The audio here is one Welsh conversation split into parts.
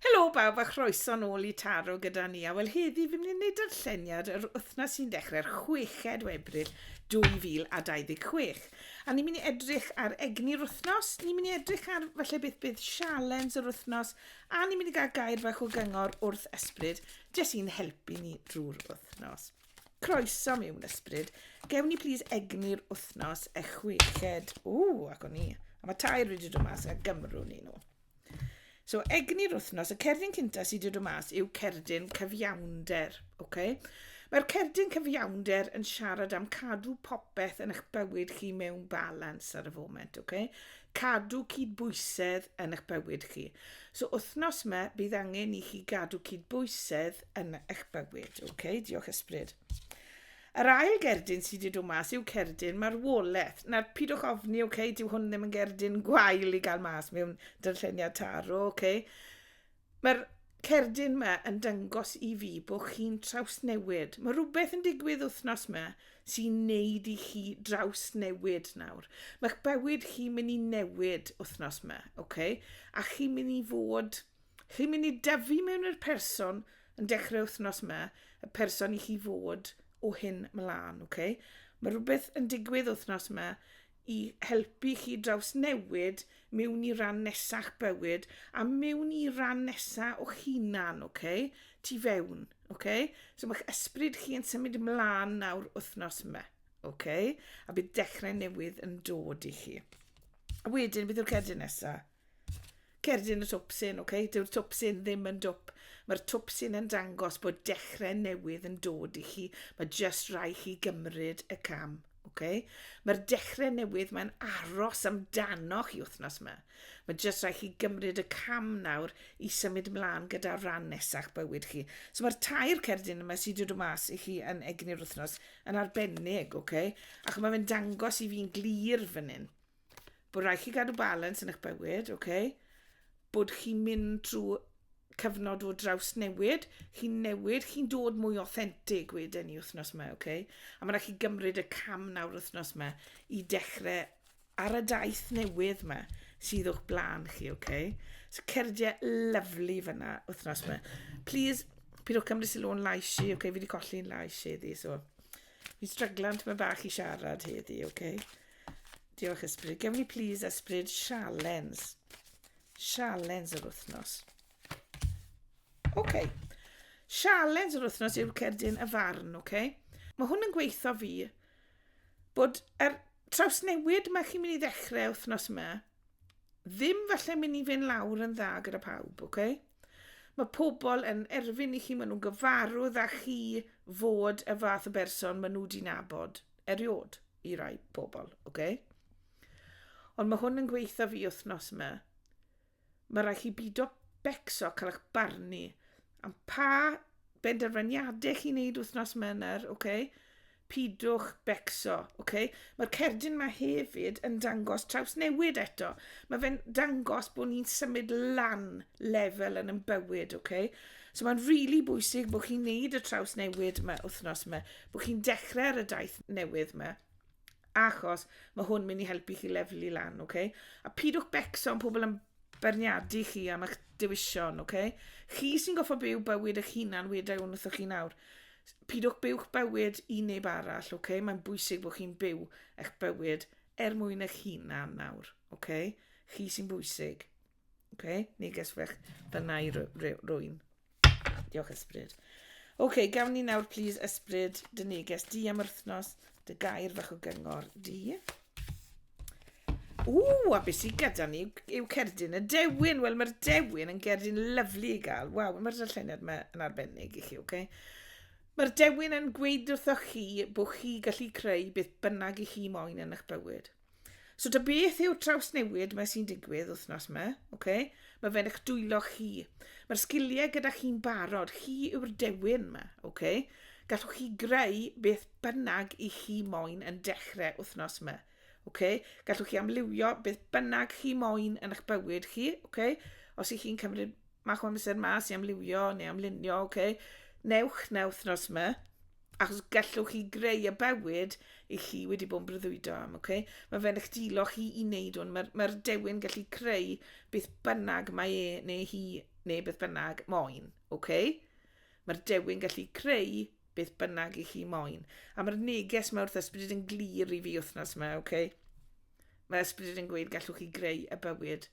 Helo bawb a chroeso nôl i Taro gyda ni, a wel heddi fi'n mynd i wneud darlleniad yr wythnos sy'n dechrau'r chweched o Ebrill 2026. A ni'n mynd i edrych ar egni'r wythnos, ni'n mynd i edrych ar falle beth bydd sialens yr wythnos, a ni'n mynd i gael gair fach o gyngor wrth ysbryd, jyst i'n helpu ni drwy'r wythnos. Croeso mewn ysbryd, gewn ni plîs egni'r wythnos y chweched, ww, ac o'n i, a mae tair wedi dod mas a gymrwn ni nhw. So, egni'r wythnos, y cerdyn cynta sydd wedi dod mas yw cerdyn cyfiawnder. Okay? Mae'r cerdyn cyfiawnder yn siarad am cadw popeth yn eich bywyd chi mewn balans ar y foment. Okay? Cadw cydbwysedd yn eich bywyd chi. So, wythnos yma, bydd angen i chi gadw cydbwysedd yn eich bywyd. Okay? Diolch ysbryd. Yr ail gerdyn sy di dod mas yw cerdyn marwoleth. Nawr, pidwch ofni, ok, dyw hwn ddim yn gerdyn gwael i gael mas mewn dyrlleniad taro, ok. Mae'r cerdyn yma yn dyngos i fi bod chi'n trawsnewid. Mae rhywbeth yn digwydd wythnos yma sy'n neud i chi drawsnewid nawr. Mae'ch bywyd chi'n mynd i newid wythnos yma, ok? A chi'n mynd i fod Chi'n mynd i dyfu mewn i'r person yn dechrau wythnos yma, y person i chi fod o hyn mlaen, ok? Mae rhywbeth yn digwydd wythnos yma i helpu chi draws newid mewn i ran nesach bywyd a mewn i ran nesa o hunan, ok? Tu fewn, ok? So mae'ch ysbryd chi yn symud ymlaen nawr wythnos yma, ok? A bydd dechrau newydd yn dod i chi. A wedyn, beth yw'r cedyn nesaf? Cerdyn y twpsyn, ok? Dyw'r twpsyn ddim yn dwp. Mae'r twpsyn yn dangos bod dechrau newydd yn dod i chi. Mae just rai chi gymryd y cam, ok? Mae'r dechrau newydd mae'n aros amdano chi wythnos yma. Mae just rai chi gymryd y cam nawr i symud mlaen gyda'r rhan nesach bywyd chi. So mae'r tair cerdyn yma sydd wedi dod mas i chi yn egni'r wythnos yn arbennig, ok? Ac mae fe'n dangos i fi'n glir fan hyn. Bod rhaid chi gadw balans yn eich bywyd, ok? Bod chi'n mynd trwy cyfnod o draws newid, chi'n newid, chi'n dod mwy authentic wedyn i wythnos yma, ok? A mae'n rhaid chi gymryd y cam nawr wythnos yma i dechrau ar y daith newydd yma sydd o'ch blaen chi, ok? So cerdiau lyflu fyna wythnos yma. Please, pidwch cymryd sylw o'n lais i, ok? Fi wedi colli'n lais heddi, so... Fi'n stryglan tyma bach i siarad heddi, ok? Diolch Ysbryd. Gewn ni please Ysbryd sialens. Sialens yr wythnos. Oce. Okay. Sialens yr wythnos yw'r cerdyn y farn, oce? Okay? Mae hwn yn gweithio fi bod er trawsnewid mae chi'n mynd i ddechrau wythnos yma, ddim falle mynd i fynd lawr yn dda gyda pawb, oce? Okay? Mae pobl yn erfyn i chi, maen nhw'n gyfarwydd â chi fod y fath o berson maen nhw wedi nabod eriod i rai pobl, oce? Okay? Ond mae hwn yn gweitha fi wythnos yma. Mae rhaid chi bido becso cael eich barnu am pa benderfyniadau chi'n neud wythnos yma yna, oce? Okay? Pidwch becso, ok? Mae'r cerdyn ma hefyd yn dangos trawsnewid eto. Mae fe'n dangos bod ni'n symud lan lefel yn yn bywyd, ok? So mae'n rili really bwysig bod chi'n neud y trawsnewid yma wythnos yma, bod chi'n dechrau ar y daith newydd yma, achos mae hwn mynd i helpu chi lefelu lan, ok? A pidwch becso am pobl yn beirniadu chi am eich dewision, ok? Chi sy'n goffa byw bywyd eich hunan wedi a'i wrthoch chi nawr. Pidwch byw'ch bywyd i neb arall, ok? Mae'n bwysig bod chi'n byw eich bywyd er mwyn eich hunan nawr, ok? Chi sy'n bwysig, ok? Neges fech fyna i rwy'n. Diolch ysbryd. Oce, okay, gawn ni nawr plîs ysbryd dy neges di am wythnos, dy gair fach o gyngor di. Ww, a beth sy'n gyda ni yw cerdyn y dewin. Wel, mae'r dewin yn gerdyn lyflu i gael. Waw, mae'r darlleniad yma yn arbennig i chi, oce? Okay? Mae'r dewin yn gweud wrthoch chi bod chi gallu creu beth bynnag i chi moyn yn eich bywyd. So ta beth yw'r trawsnewid mae sy'n digwydd wythnos yma, okay? mae fe'n eich dwylo chi. Mae'r sgiliau gyda chi'n barod, chi yw'r dewin yma. Okay? Gallwch chi greu beth bynnag i chi moyn yn dechrau wythnos yma. Okay? Gallwch chi amlywio beth bynnag chi moyn yn eich bywyd chi. Okay? Os ych chi'n cymryd mach o amser mas i amlywio neu amlunio, okay? newch na wythnos yma. achos gallwch chi greu y bywyd i chi wedi bod yn breuddwydo am, okay? Mae fe'n eich dilo chi i wneud hwn. Mae'r mae dewin gallu creu beth bynnag mae e neu hi neu beth bynnag moyn, okay? Mae'r dewin gallu creu beth bynnag i chi moyn. A mae'r neges mae wrth ysbryd yn glir i fi wythnos yma, okay? Mae ysbryd yn gweud gallwch chi greu y bywyd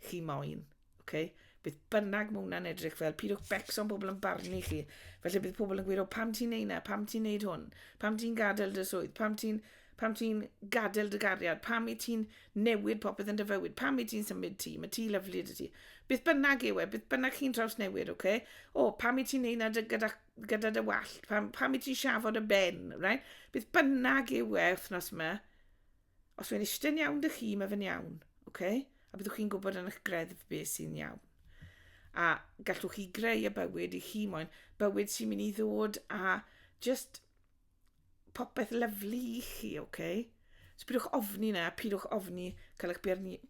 chi moyn. Ok? Beth bynnag mae hwnna'n edrych fel, pidwch becso'n pobl yn barnu chi. Felly bydd pobl yn gweud, o, pam ti'n neud na, pam ti'n neud hwn, pam ti'n gadael dy swydd, pam ti'n pam ti'n gadael dy gariad, pam i ti'n newid popeth yn dy fywyd, pam i ti'n symud ti, mae ti lyflu dy ti. Bydd bynnag yw e, bydd bynnag chi'n traws newid, oce? Okay? O, pam i ti'n neud na dy, gyda, gyda dy wallt, pam, pam i ti'n siafod y ben, right? Bydd bynnag yw e wythnos yma, Os mae'n iste'n iawn dych chi, mae fe'n iawn, ok? A byddwch chi'n gwybod yn eich greddf beth sy'n iawn. A gallwch chi greu y bywyd i chi moyn, bywyd sy'n mynd i ddod a just popeth lyflu i chi, ok? So pidwch ofni na, pidwch ofni cael eich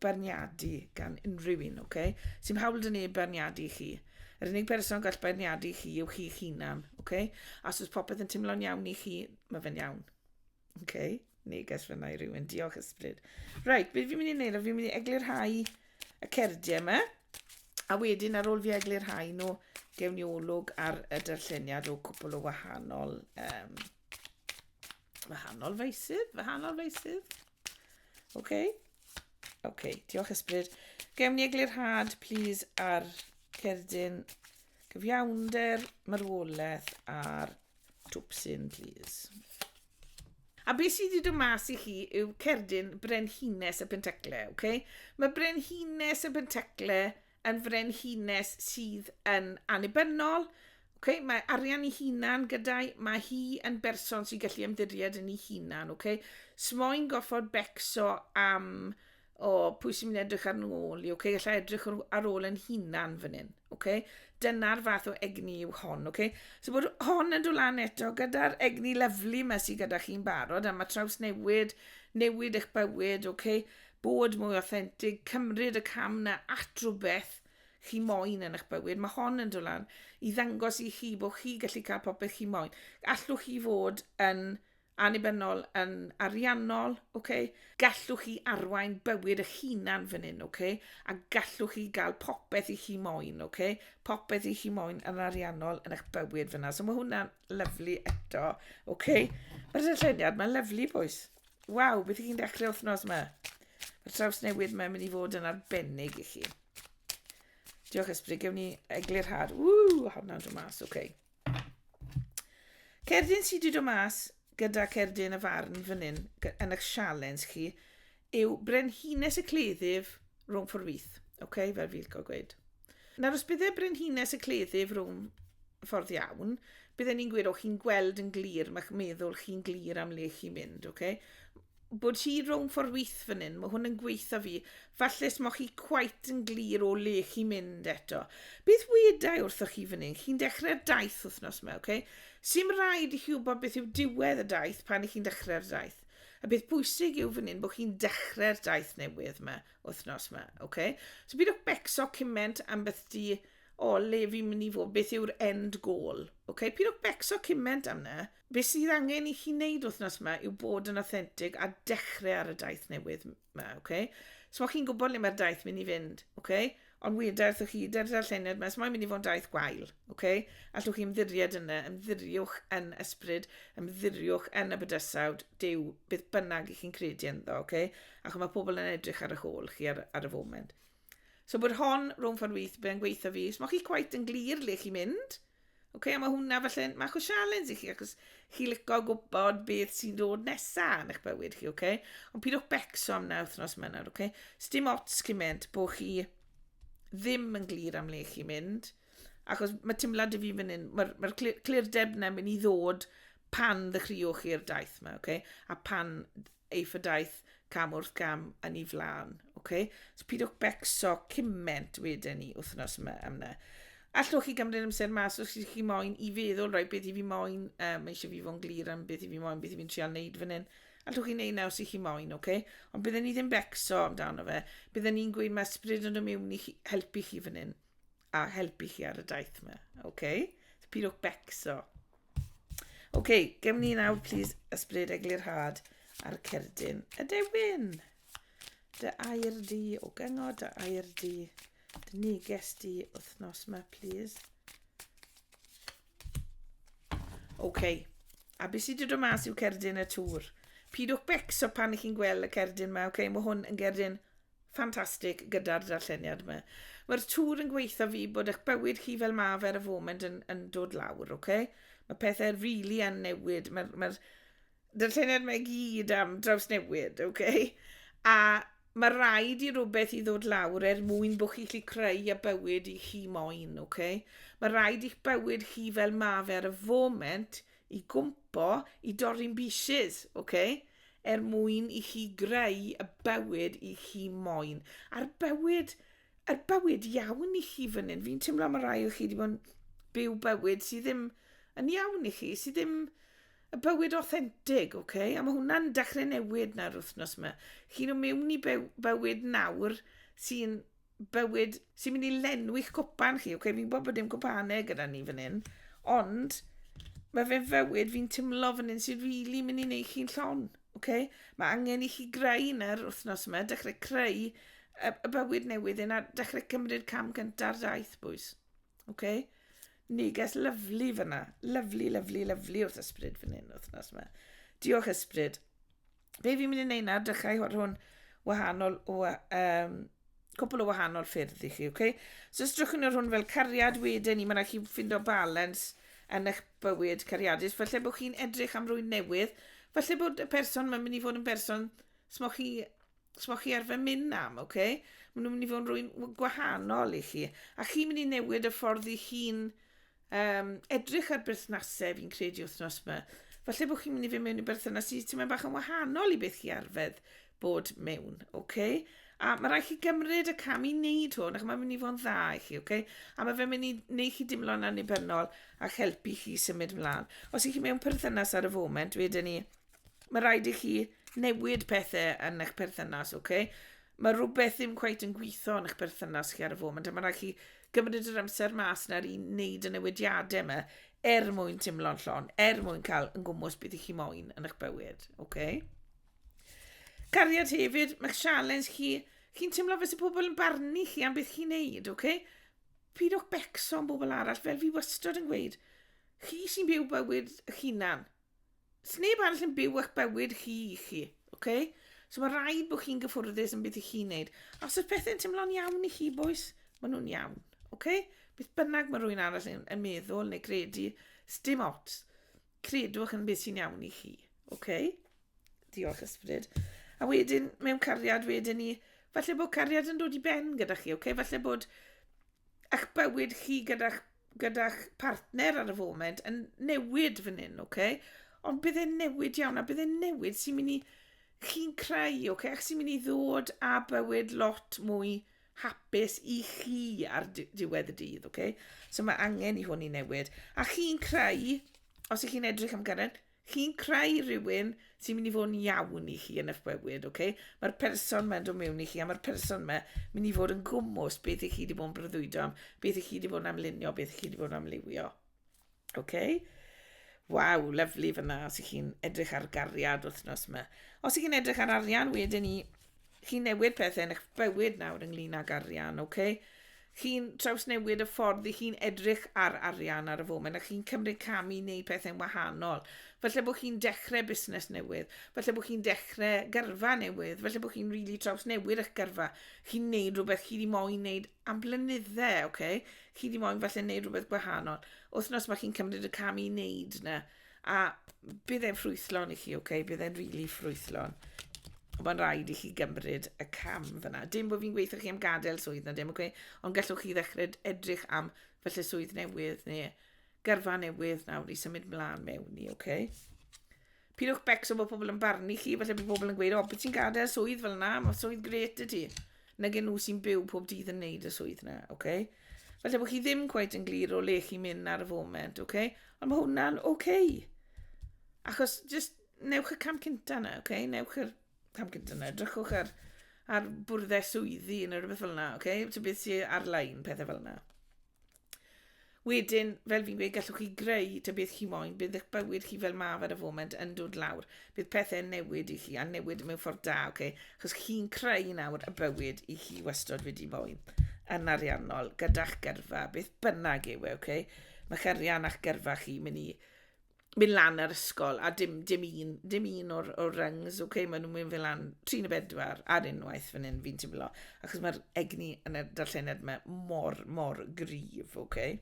barniadu gan unrhyw un, ok? Sy'n hawl dyn neb barniadu chi. Yr unig person gall barniadu chi yw chi'ch hunan, ok? A os popeth yn teimlo'n iawn i chi, mae fe'n iawn. OK, neges fyna i rywun. Diolch ysbryd. Right, beth fi'n mynd i wneud? Fi'n mynd i eglurhau y cerdiau yma. A wedyn ar ôl fi eglurhau nhw, gewn ni olwg ar y darlleniad o cwpl o wahanol... Um, wahanol feisydd? Wahanol feisydd? OK? OK, diolch ysbryd. Gewn ni eglurhad, please, ar cerdyn cyfiawnder, marwolaeth a'r Twps in, please. A beth sydd wedi dod mas i chi yw cerdyn Brenhines y Pentecle, oce? Okay? Mae Brenhines y Pentecle yn frenhines sydd yn annibynnol, Okay, mae arian i hunan gyda'i, mae hi yn berson sy'n gallu ymddiried yn ei hunan, okay? Smoen goffod becso am o pwy sy'n mynd edrych ar ôl i, okay? Alla edrych ar ôl yn hunan fan hyn, okay? Dyna'r fath o egni yw hon, okay? So bod hon yn dod lan eto gyda'r egni lyflu yma sydd gyda chi'n barod, a mae traws newid, newid eich bywyd, okay? Bod mwy authentic, cymryd y cam na at rhywbeth chi moyn yn eich bywyd. Mae hon yn dod lan i ddangos i chi bod chi gallu cael popeth chi moyn. Allwch chi fod yn annibynnol, yn ariannol, okay? gallwch chi arwain bywyd eich hunan fan hyn, okay? a gallwch chi gael popeth i chi moyn, okay? popeth i chi moyn yn ariannol yn eich bywyd fyna. So mae hwnna'n lyflu eto. Okay? Mae'r dyllyniad, mae'n lyflu boes. Waw, beth i chi'n dechrau wythnos yma? Mae'r traws newydd mae'n mynd i fod yn arbennig i chi. Diolch ysbryd, gewn ni eglurhad. Ww, hwnna'n dod mas, okay. Cerdyn sydd wedi dod mas gyda Cerdyn y Farn fan hyn, yn eich sialens chi, yw Brenhines y Cleddyf rhwng ffordd fyth. Okay? Fel fi'n cael gweud. Nawr, os bydde Brenhines y Cleddyf rhwng ffordd iawn, bydden ni'n gweud, o, chi'n gweld yn glir, mae'ch meddwl chi'n glir am le chi'n mynd, okay? Bod hi rownd ffordd wyth fan hyn, mae hwn yn gweitha fi. Falle os mae chi quite yn glir o le chi'n mynd eto. Beth wedau wrthoch chi fan hyn? Chi'n dechrau'r daith wythnos yma, oce? Okay? Sim rhaid i chi wybod beth yw diwedd y daith pan i chi'n dechrau'r daith. Y peth pwysig yw fan hyn bod chi'n dechrau'r daith newydd yma, wythnos yma, oce? Okay? So byd o'ch becso cyment am beth di, o, le fi'n mynd i fod, beth yw'r end goal, oce? Okay? Pyd o'ch becso cyment am na, Be sydd angen i chi wneud wythnos yma yw bod yn authentic a dechrau ar y daith newydd yma, oce? Okay? So mae chi'n gwybod le mae'r daith mynd i fynd, oce? Okay? Ond weda wrthych chi, dy'r darlleniad yma, mae'n mynd i fod yn daith gwael, oce? Okay? Allwch chi ymddiried yna, ymddiriwch yn ysbryd, ymddiriwch yn y bydysawd, dew, beth bynnag i chi'n credu ynddo, oce? Okay? Ac mae pobl yn edrych ar y hôl chi ar, ar y foment. So bod hon, rhwng ffordd wyth, bydd yn gweithio fi. Os mae chi gwaith yn glir le chi'n mynd, Ok, a mae hwnna falle'n mach o sialens i chi, ac os chi licio gwybod beth sy'n dod nesaf yn eich bywyd chi, ok? Ond pidwch becso am na wythnos yma nawr, ok? Sdim ots cymaint bod chi ddim yn glir am le chi mynd, achos mae teimlad i fi fan hyn, mae'r mae clir, clir deb yna mynd i ddod pan ddechreuwch chi'r daith yma, okay? a pan ei phedaith cam wrth gam yn ei flaen. Okay? So pidwch becso cyment wedyn ni wythnos yma am na. Allwch chi gymryd amser mas os ydych chi moyn i feddwl, roi beth i fi moyn, um, mae eisiau fi fo'n glir am beth i fi moyn, beth i fi'n trio wneud fan hyn. Allwch chi wneud na os ydych chi moyn, oce? Okay? Ond byddwn ni ddim becso amdano fe. Byddwn ni'n gweud mae ysbryd yn ymuwn i chi, helpu chi fan hyn. a helpu chi ar y daith yma. OK? So, pidwch becso. OK, gem ni nawr, please, ysbryd eglurhad ar cerdyn y dewin. Dy air di o gyngor, dy air di, dy neges di wythnos yma, please. OK, a beth sydd wedi dod mas yw cerdyn y tŵr. Pidwch becso pan ych chi'n gweld y cerdyn yma, OK, mae hwn yn gerdyn Ffantastig gyda'r darlleniad yma. Mae'r tŵr yn gweitha fi bod eich bywyd chi fel mae fe ar y foment yn, yn dod lawr, ok? Mae pethau rili really yn newid. Mae'r ma darlleniad yma i gyd am draws newid, ok? A mae rhaid i rhywbeth i ddod lawr er mwyn bod chi'n gallu creu y bywyd i chi moyn, ok? Mae rhaid i'ch bywyd chi fel mae fe ar y foment i gwmpo i dorri'n bieces, ok? Er mwyn i chi greu y bywyd i chi moyn. A'r bywyd, yr bywyd iawn i chi fan hyn. Fi'n teimlo mae rhai o chi wedi bod yn byw bywyd sydd ddim yn iawn i chi, sydd ddim y bywyd authentic, ok? A mae hwnna'n dechrau newid nawr wythnos yma. Chi'n o mewn i byw, bywyd nawr sy'n bywyd sy'n mynd i lenwi'ch cwpan chi. Okay? Fi'n gwybod bod dim cwpanau gyda ni fan hyn, ond mae fe'n fywyd fi'n timlo fan hyn sy'n rili really mynd i wneud chi'n llon. Okay? Mae angen i chi greu yna'r wythnos yma, dechrau creu y, y bywyd newydd yna, dechrau cymryd cam cynta'r daith, bwys. Okay? Neges lyflu fyna. Lyflu, lyflu, lyflu wrth ysbryd fan hyn wythnos yma. Diolch ysbryd. Be fi'n mynd i wneud nawr, dechrau hwn, hwn wahanol, um, cwpl o wahanol ffyrdd i chi, oce? Okay? So os drwch yn yr hwn fel cariad wedyn i, mae'n rhaid chi ffindo balans yn eich bywyd cariadus. Felly bod chi'n edrych am rwy'n newydd, felly bod y person mae'n mynd i fod yn berson smo chi, smo chi arfer mynd am, oce? Okay? Mae'n mynd i fod yn rwy'n gwahanol i chi. A chi'n mynd i newid y ffordd i chi'n Um, edrych ar berthnasau fi'n credu wythnos yma. Falle bod chi'n mynd i fy mewn i berthynas sydd ti'n meddwl bach yn wahanol i beth chi arfedd bod mewn, oce? Okay? A mae rhaid chi gymryd y cam i wneud hwn, ac mae'n mynd i fod yn dda i chi, oce? Okay? A mae fe'n mynd i wneud chi dimlo'n annibynnol ac helpu chi symud mlaen. Os ych chi mewn perthynas ar y foment, wedyn ni, mae rhaid i chi newid pethau yn eich perthynas, oce? Okay? Mae rhywbeth ddim cweith yn gweithio yn eich perthynas chi ar y foment, a mae rhaid chi gymryd yr amser mas nawr i wneud y newidiadau yma er mwyn timlo'n llon, er mwyn cael yn gwmwys beth i chi moyn yn eich bywyd. Okay? Cariad hefyd, mae'ch sialens chi, chi'n teimlo fes y pobl yn barnu chi am beth chi'n neud, okay? Pyd o'ch becso am bobl arall, fel fi wastod yn gweud, chi sy'n byw bywyd eich hunan. Sneb arall yn byw a'ch bywyd chi i chi, oce? Okay? So mae rhaid bod chi'n gyffwrddus yn beth i chi'n neud. A os oes pethau'n teimlo'n iawn i chi, boes, maen nhw'n iawn, oce? Okay? Beth bynnag mae rhywun arall yn, yn meddwl neu credu, sdim ots. Credwch yn beth sy'n iawn i chi, oce? Okay? Diolch ysbryd. A wedyn, mewn cariad, wedyn ni, falle bod cariad yn dod i ben gyda chi, oce? Okay? Falle bod eich bywyd chi gyda'ch gyda'ch partner ar y foment yn newid fan hyn, oce? Okay? Ond bydd e'n newid iawn, a bydd e'n newid sy'n mynd i chi'n creu, oce? Okay? Ac sy'n mynd i ddod a bywyd lot mwy hapus i chi ar diwedd y dydd, oce? Okay? So mae angen i hwn i newid. A chi'n creu, os ych chi'n edrych am gyrraedd, Chi'n creu rhywun sy'n mynd i fod yn iawn i chi yn eich bywyd, ok? Mae'r person mae'n dod mewn i chi a mae'r person yma mynd i fod yn gwmwys beth i chi wedi bod yn breuddwydo am, beth i chi wedi bod yn amlunio, beth i chi wedi bod yn amliwio. Ok? Waw, lyflu fyna os ych chi'n edrych ar gariad wythnos yma. Os ych chi'n edrych ar arian, wedyn ni Chi'n newid pethau yn eich bywyd nawr ynglyn ag arian, ok? Chi'n trawsnewid y ffordd i chi'n edrych ar arian ar y foment a chi'n cymryd cam i wneud pethau'n wahanol. Falle bod chi'n dechrau busnes newydd, falle bod chi'n dechrau gyrfa newydd, falle bod chi'n rili really trawsnewid eich gyrfa. Chi'n wneud rhywbeth chi wedi moyn wneud am blynyddau, ok? Chi wedi moyn falle wneud rhywbeth gwahanol. Wythnos mae chi'n cymryd y cam i wneud yna. A bydd e'n ffrwythlon i chi, oce? Okay? Bydd e'n rili really ffrwythlon. Mae'n rhaid i chi gymryd y cam fyna. Dim bod fi'n gweithio chi am gadael swydd na dim, oce? Okay? Ond gallwch chi ddechrau edrych am felly swydd newydd neu gyrfa newydd nawr i symud mlaen mewn i, oce? Okay? Pidwch becso bod pobl yn barnu chi, felly bod pobl yn gweud, o, beth ti'n gadael swydd fel yna, mae swydd gret y ti. nag y'n nhw sy'n byw pob dydd yn neud y swydd na, ok? Falle bod chi ddim cweit yn glir o le chi'n mynd ar y foment, ok? Ond mae hwnna'n ok. Achos, just newch y cam cynta na, ok? Newch yr cam cynta na, drychwch ar, ar bwrddau swyddi neu rhywbeth fel yna, ok? Ti'n beth sy'n ar-lein, pethau fel yna. Wedyn, fel fi'n gweud, gallwch chi greu ta beth chi moyn, bydd eich bywyd chi fel maf ar y foment yn dod lawr. Bydd pethau'n newid i chi, a newid mewn ffordd da, oce? Okay? Chos chi'n creu nawr y bywyd i chi wastod wedi moyn, yn ariannol, gyda'ch gyrfa, beth bynnag yw e, oce? Okay? Mae'ch arian a'ch gyrfa chi mynd i mynd lan ar ysgol a dim, dim un, dim un o'r, or rungs, oce, okay, maen nhw'n mynd fel lan 34 ar unwaith fan hyn fi'n teimlo, achos mae'r egni yn y darllened yma mor, mor gryf, oce. Okay.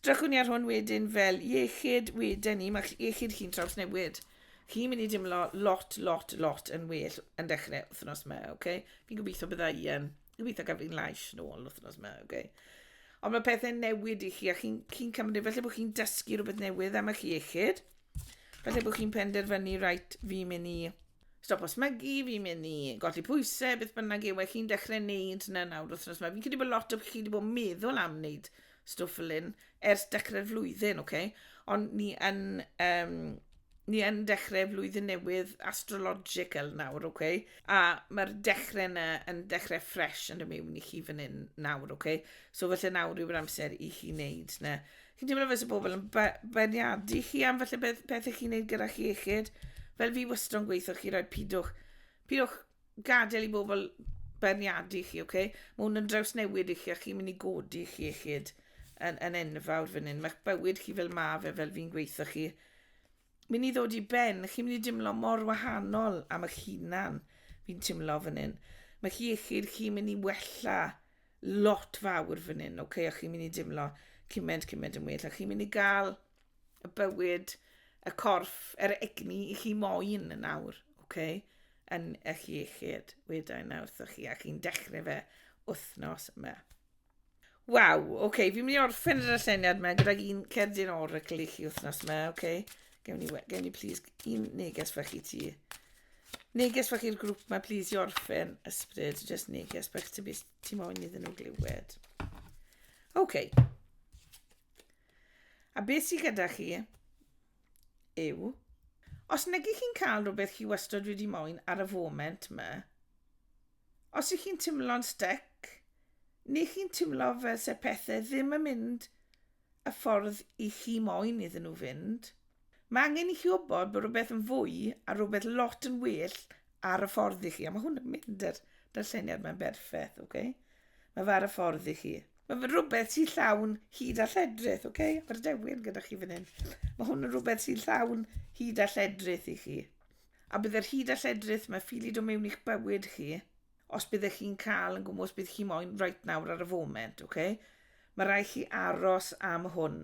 Drachwn ni ar hwn wedyn fel iechyd wedyn ni, mae iechyd chi'n traws newid. Chi'n mynd i dimlo lot, lot, lot yn well yn dechrau wythnos yma, oce. Okay. Fi'n gobeithio bydda i yn Gobeithio gael fi'n lais nôl wythnos yma, oce. Okay. Ond mae pethau'n newid i chi, a chi'n chi, chi cymryd, felly bod chi'n dysgu rhywbeth newydd am eich iechyd. Felly bod chi'n penderfynu, rhaid, fi'n mynd i stop os mygu, fi'n mynd i golli pwysau, beth bynnag yw, e, chi'n dechrau wneud na nawr wythnos yma. Fi'n credu bod lot o chi wedi bod yn meddwl am wneud stwff fel hyn ers dechrau'r flwyddyn, oce? Ond ni yn, um, ni yn dechrau flwyddyn newydd astrological nawr, oce? A mae'r dechrau yna yn dechrau ffres yn y mewn i chi fan hyn nawr, oce? So felly nawr yw'r amser i chi wneud na. Chi'n teimlo fes y bobl yn beniadu chi am felly beth, beth ych chi'n wneud gyda chi iechyd? Fel fi wastad yn gweithio, chi roi pidwch, pidwch gadael i bobl beirniadu chi, ok? Mae hwn yn drawsnewid i chi a chi'n mynd i godi chi iechyd yn, yn enfawr fan hyn. Mae'ch bywyd chi fel ma fe, fel fi'n gweithio chi, mynd i ddod i ben, chi'n mynd i dimlo mor wahanol am eich hunan, fi'n timlo fan hyn. Mae chi iechyd chi'n mynd i wella lot fawr fan hyn, ok? A chi'n mynd i dimlo cymaint, cymaint yn well. A chi'n mynd i gael y bywyd, y corff, yr egni i chi moyn yn awr, oce? Okay? Yn eich iechyd, weda i nawr wrthych chi, a chi'n dechrau fe wythnos yma. Waw, oce, okay, fi'n mynd i orffen yr aseniad yma gyda'r un cerdyn oracle i chi wythnos yma, oce? Okay? Gewn ni, gewn ni please un neges fach i ti. Neges fach i'r grŵp yma, please i orffen ysbryd, just neges fach ti, ti moyn iddyn nhw glywed. Oce. Okay. A beth sydd gyda chi yw, os negi chi'n cael rhywbeth chi wastod wedi moyn ar y foment yma, os ych chi'n timlo'n stec, neu chi'n timlo fel se pethau ddim yn mynd y ffordd i chi moyn iddyn nhw fynd, Mae angen i chi wybod bod rhywbeth yn fwy a rhywbeth lot yn well ar y ffordd i chi. A mae hwn yn mynd yr darlleniad mae'n berffaith, oce? Okay? Mae fe ar y ffordd i chi. Mae fe rhywbeth sy'n llawn hyd a lledrith, oce? Okay? Mae'r dewin gyda chi fan hyn. Mae hwn yn rhywbeth sy'n llawn hyd a lledrith i chi. A bydd yr hyd a lledrith mae ffili dod mewn i'ch bywyd chi Os byddech chi'n cael yn gwmws bydd chi moyn right nawr ar y foment, ok? Mae rai chi aros am hwn.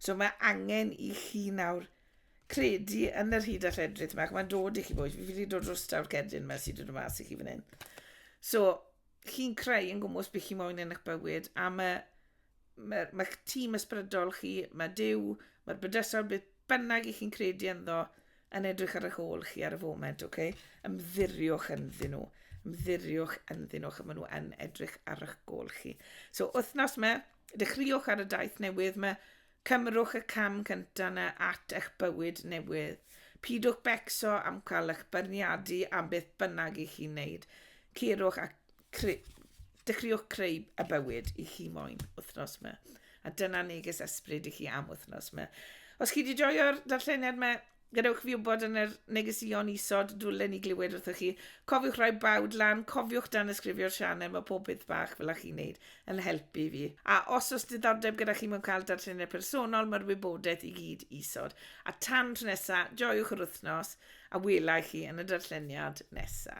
So mae angen i chi nawr credu yn yr hyd a lledrith yma, ac mae'n dod i chi boys, fi wedi dod o'r stawr cerdyn yma sydd wedi dod mas i chi fan hyn. So, chi'n creu yn gwmwys beth chi moyn yn eich bywyd am y Mae'r mae tîm ysbrydol chi, mae Dyw, mae'r bydysawd beth bynnag i chi'n credu ynddo yn edrych ar eich ôl chi ar y foment, oce? Okay? Ymddiriwch ynddyn nhw. Ymddiriwch ynddyn nhw, achos maen nhw yn edrych ar eich gol chi. So, wythnos yma, dechreuwch ar y daith newydd yma, cymrwch y cam cyntaf yna at eich bywyd newydd. Pidwch becso am cael eich byrniadu am beth bynnag i chi'n neud. Ceirwch ac Cre... Dechreuwch creu y bywyd i chi moyn wythnos 'ma. A dyna neges ysbryd i chi am wythnos 'ma. Os chi wedi joio'r darlleniad 'ma, gadewch fi wybod yn yr negeseuon isod, dwlen ni glywed wrthoch chi. Cofiwch rhoi bawd lan, cofiwch dan ysgrifio'r sianel, mae pob peth bach fel a chi'n neud yn helpu fi. A os oes diddordeb gyda chi mewn cael darlleniad personol, mae'r wybodaeth i gyd isod. A tan tro nesa, joiwch yr wythnos, a wela i chi yn y darlleniad nesa.